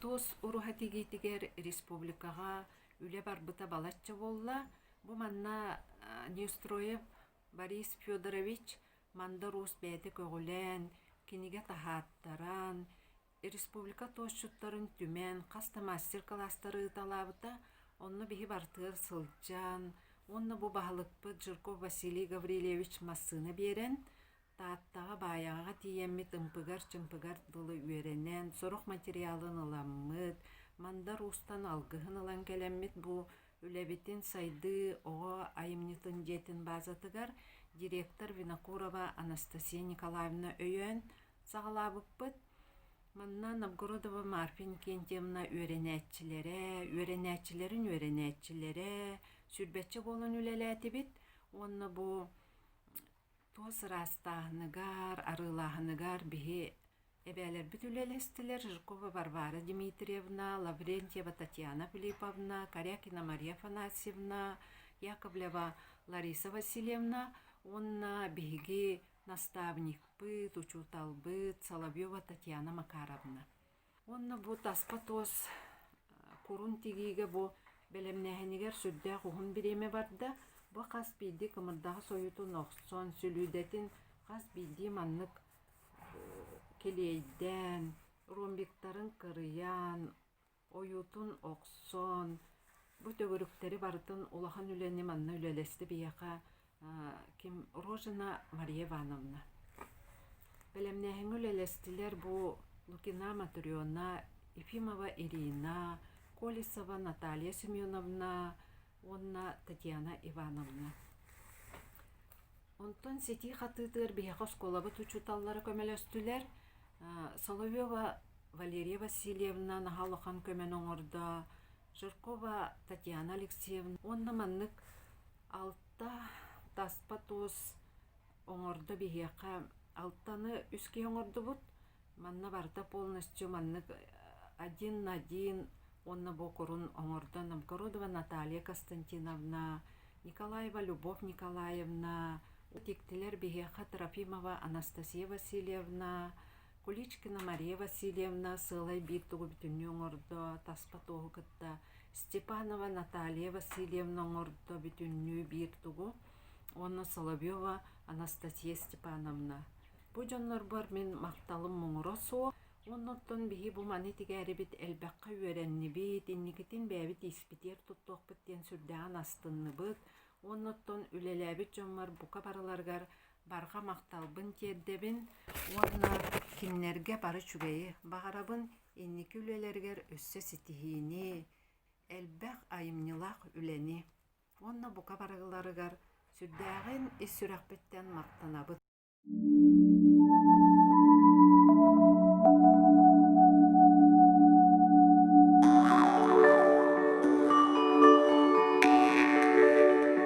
Туос уруһа тигиитигэр республикаҕа үлэ барбыта балачча буолла. Бу манна Нестройев Борис Федорович Мандар Уус бэйэтэ көҕүлээн, кинигэ таһааттаран, республика туосчуттарын түмэн, хас да мастер-кылаастары ыыталаабыта. Онно биһи барытыгар сылдьан, уонна бу баһылыкпыт Жирков Василий Гаврильевич массыына биэрэн, Тааттаҕа Баайаҕаҕа тиийэммит ымпыгар-чымпыгар дылы үөрэнэн, сорох материалын ыламмыт, Мандар Уустан алгыһын ылан кэлэммит бу үлэбитин сайдыы оҕо айымньытын дьиэтин баазатыгар директор Винокурова Анастасия Николаевна өйөөн саҕалаабыппыт. Манна Новгородова Марфа Иннокентьевна үөрэнээччилэрэ, үөрэнээччилэрин үөрэнээччилэрэ сүүрбэччэ буолан үлэлээтибит уонна бу Туос ыраастааһыныгар, арыылааһыныгар биһи эбээлэрбит үлэлэстилэр Жиркова Варвара Дмитриевна, Лаврентьева Татьяна Филипповна, Корякина Мария Афанасьевна, Яковлева Лариса Васильевна уонна биһиги наставникпыт, учууталбыт Соловьева Татьяна Макаровна. Уонна бу таска туос курун тигиигэ бу бэлэмнээһинигэр сүрдээх уһун бириэмэ барда. Бу хас биирдии кымырдаҕас ойуутун охсон, сүлүүдэтин хас биирдии маннык килиэйдээн, ромбиктарын кырыйан, ойуутун охсон, бу төгүрүктэри барытын улахан үлэни манна үлэлэстэ биһиэхэ Ким Рожина Мария Ивановна. Бэлэмнээһиҥҥэ үлэлэстилэр бу Лукина Матрена, Ефимова Ирина, Колесова Наталья Семеновна уонна Татьяна Ивановна. Онтон ситии хатыытыгар биһиэхэ оскуолабыт учууталлара көмөлөстүлэр. Соловьева Валерия Васильевна наһаа улахан көмөнү оҥордо. Жиркова Татьяна Алексеевна уонна маннык Алта таспа туос оҥордо биһиэхэ. Алтаны үс киһи оҥордубут. Манна барыта полностью маннык один на один уонна буокурун оҥордо нам Кородова Наталья Константиновна, Николаева Любовь Николаевна, дьиктилэр биһиэхэ Трофимова Анастасия Васильевна, Куличкина Мария Васильевна сыалай биир тугу бүтүннүү оҥордо, таспа туоһу кытта Степанова Наталья Васильевна оҥордо бүтүннүү биир тугу уонна Соловьева Анастасия Степановна. Бу дьоннорбор мин махталым муҥура суох, оннуттан биһи бу маны тигээрибит элбэххэ үөрэннибит, инникитин бэйэбит испитиэр туттуохпут диэн сүрдээҕин астынныбыт, оннуттан үлэлээбит дьоммор бука барыларыгар барҕа махталбын тиэрдэбин уонна кинилэргэ бары үчүгэйи баҕарабын, инники үлэлэригэр өссө ситиһиини, элбэх айымньылаах үлэни уонна бука барыларыгар сүрдээҕин ис сүрэхпиттэн махтанабын.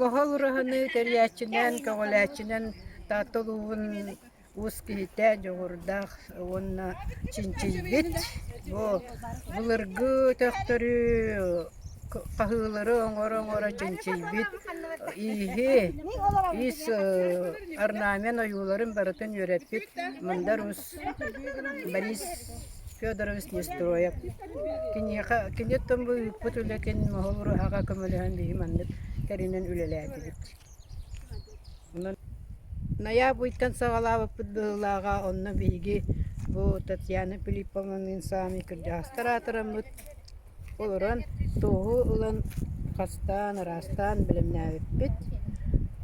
Mohол ураһаны тэрийээччинэн, көҕүлээччинэн Таатта улууһун уус киһитэ дьоҕурдаах уонна чинчийбит. Бу былыргы өтөхтөрү, хаһыылары оҥоро-оҥоро чинчийбит ииһи, ис орнамент ойууларын барытын үөрэппит Мандар Уус Борис Федорович Нестроев киниэхэ кини оттон бу ыыппыт үлэтин моһол ураһаҕа көмөлөһөн биһи маннык тэринэн үлэлээтибит. Ноябрьтан саҕалаабыппыт быһыылааҕа онно биһиги бу Татьяна Филипповнаның саамай кырдьаҕастар аатыраммыт олорон туоһу ылан хастаан араастаан бэлэмнээбиппит.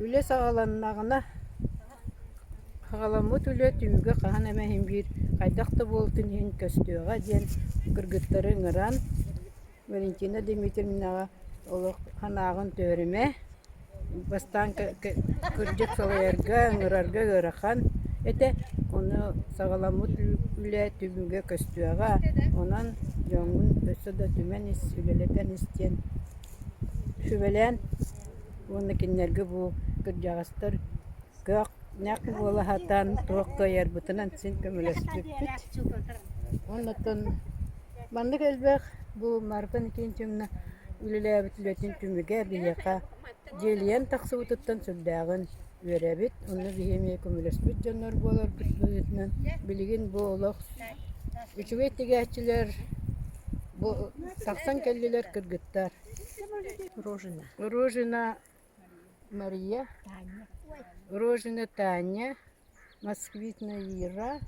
Үлэ саҕаланнаҕына Аҕаламмыт үлэ түмүгэ хаһан эмэ иһин биир хайдах да буолутун иһин көстүөҕэ диэн кыргыттары ыҥыран, Валентина Дмитриевнаҕа олох санааҕын түһэримэ, бастаан кырдьык салайарга, ыҥырарга ыарахан этэ, ону саҕаламмыт үлэ түмүгэ көстүөҕэ, онон дьоҥҥун өссө да түмэн ис, үлэлэтэн ис диэн Сүбэлээн уонна кинилэргэ бу кырдьаҕастар көх нэх буола сатаан туох кыайарбытынан син көмөлөспүппүт. Оннуттан маннык элбэх бу Марта Никитична үлэлээбит үлэтин түмүгэ биһиэхэ дьиэлийэн тахсыбытыттан сүрдээҕин үөрэбит. Онно биһи эмиэ көмөлөспүт дьоннор буоларбыт быһыытынан, билигин бу олох үчүгэй тигээччилэр бу тахсан кэллилэр кыргыттар. Рожина. Рожина Мария, Рожина Таня, москвитная Ира,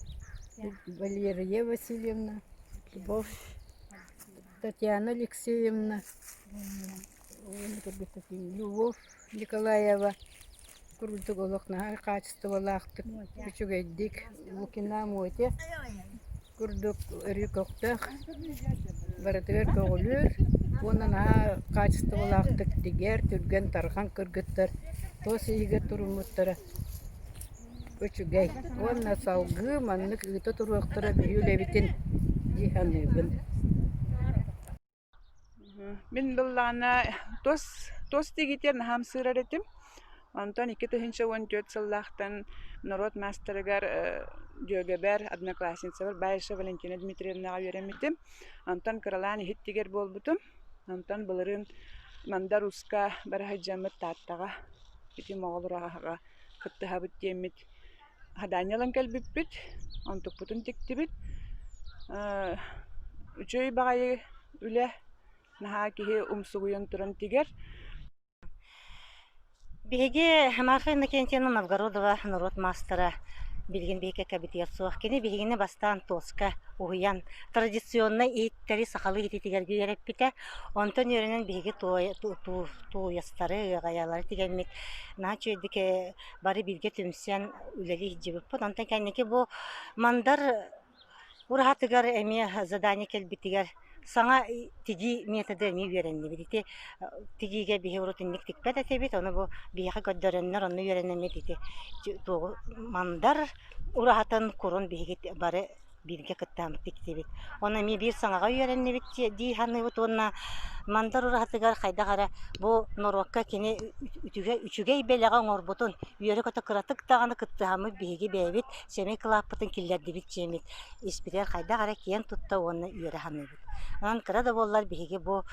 Валерия Васильевна, Любовь Татьяна Алексеевна. Любовь Николаева курдук олох наһаа хаачыстыбалаахтык, үчүгэйдик Лукина Моте курдук өрүү көхтөөх, барытыгар көҕүлүүр уонна наһаа хаачыстыбалаахтык тигэр, түргэн, тарҕан кыргыттар тос иһигэр туруммуттара үчүгэй уонна салгыы маннык ыыта туруохтара биһиги үлэбитин дии саныыбын. Мин былаана тус тус дигитэр наһаа ымсыырар этим. Онтон икки тыһыынча уон түөрт сыллаахтан норуот маастарыгар дьүөгэбэр, одноклассницабар Баишева Валентина Дмитриевнаҕа үөрэммитим. Онтон кыралаан иһит-тигэр буолбутум. Онтон былырыын Мандар Уска бара сылдьаммыт Тааттаҕа итим оҕолору аһаҕа кыттыһабыт диэммит Адаанньа ылан кэлбиппит, онтукпутун тиктибит. Э, үчүгэй баҕайы үлэ, наһаа киһи умсугуйан туран тигэр. Биһиги Маха Иннокентьевна Новгородова норуот маастара билигин биһиккэ кэбитигэр суох. Кини биһигини бастаан туоска уһуйан, традиционнай иһиттэри сахалыы иһититигэргэ үөрэппитэ. Онтон үөрэнэн биһиги туой- ту- ту- тууйастары, ыаҕайалары тигэммит. Наһаа үчүгэйдик э, бары бииргэ түмсэн үлэлии сылдьыбыппыт. Онтон кэнники бу Мандар ураһатыгар эмиэ задание кэлбитигэр саҥа тигии методы эмиэ үөрэннибит. Ити тигиигэ биһи урут инник тикпэт этибит, ону бу биһиэхэ көрдөрөннөр онно үөрэнэммит ити тугу Мандар ураһатын курун биһиги бары бииргэ кыттаабыт тиксибит. Уонна эмиэ биир саҥаҕа үөрэннибит дии саныыбыт уонна Мандар ураһатыгар хайдах эрэ бу норуокка кини үтүгэй, үчүгэй бэлэҕи оҥорбутун, үөрэ-көтө кыратык даҕаны кыттыһаммыт биһиги бэйэбит сэмэй кылааппытын киллэрдибит дьиэмит испитигэр хайдах эрэ киэн тутта уонна үөрэ саныыбыт. Онон кыра да буоллар биһиги бу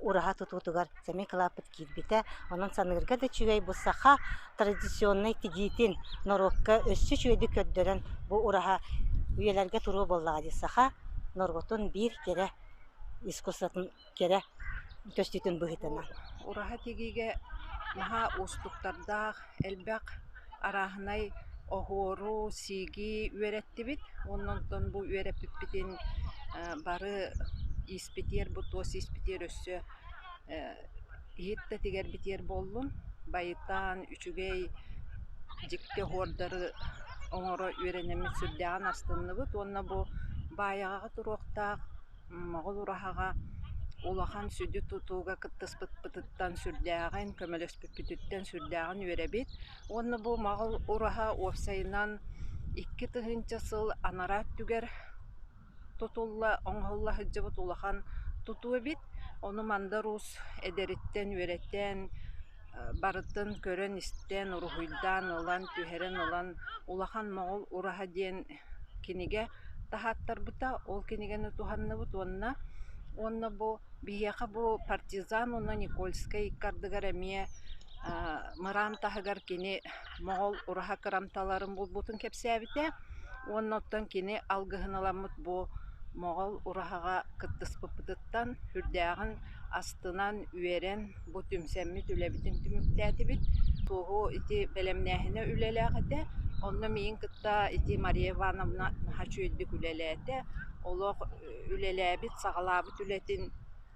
ураһа тутуутугар сэмэй кылааппыт киирбитэ. Онон саныырга да үчүгэй бу саха традиционнай тигиитин норуокка өссө үчүгэйдик көрдөрөн бу ураһа үйэлэргэ туруо буоллаҕа дии саха норуотун биир кэрэ искусствотын кэрэ көстүүтүн быһыытынан. Ураһа тигиигэ наһаа уустуктардаах, элбэх арааһынай оһуору, сииги үөрэттибит. Оннонтон бу үөрэппиппитин бары ииспитиэр, бу туос ииспитиэр өссө иһиттэтигэр битиэр буоллун, байытаан, үчүгэй дьикти оһуордары оҥоро үөрэнэммит сүрдээҕин астынныбыт уонна бу баайаҕаҕа туруохтаах моҕол ураһаҕа улахан сүдү тутууга кыттыспыппытыттан сүрдээҕин, көмөлөспүппүтүттэн сүрдээҕин үөрэбит уонна бу моҕол ураһа уопсайынан икки тыһыынча сыл анараа өттүгэр тутулла, оҥоһулла сылдьыбыт улахан тутуу эбит. Ону Мандыр Уус эдэриттэн үөрэтэн, барытын көрөн-истэн, уруһуйдаан ылан, түһэрэн ылан «Улахан моҕол ураһа» диэн кинигэ таһааттарбыта. Ол кинигэни туһанныбыт уонна уонна бу биһиэхэ бу партизан уонна Никольскай икки ардыгар эмиэ мыраан таһыгар кини моҕол ураһа кырамталарын булбутун кэпсээбитэ уонна оттон кини алгыһын аламмыт бу моҕол ураһаҕа кыттыспыппытыттан үрдээҕин астынан үөрэн бу түмсэммит үлэбитин түмүктээтибит туоһу ити бэлэмнээһинэ үлэлээх этэ онно миин кытта ити Мария Ивановна наһаа үчүгэйдик үлэлээтэ олох үлэлээбит саҕалаабыт үлэтин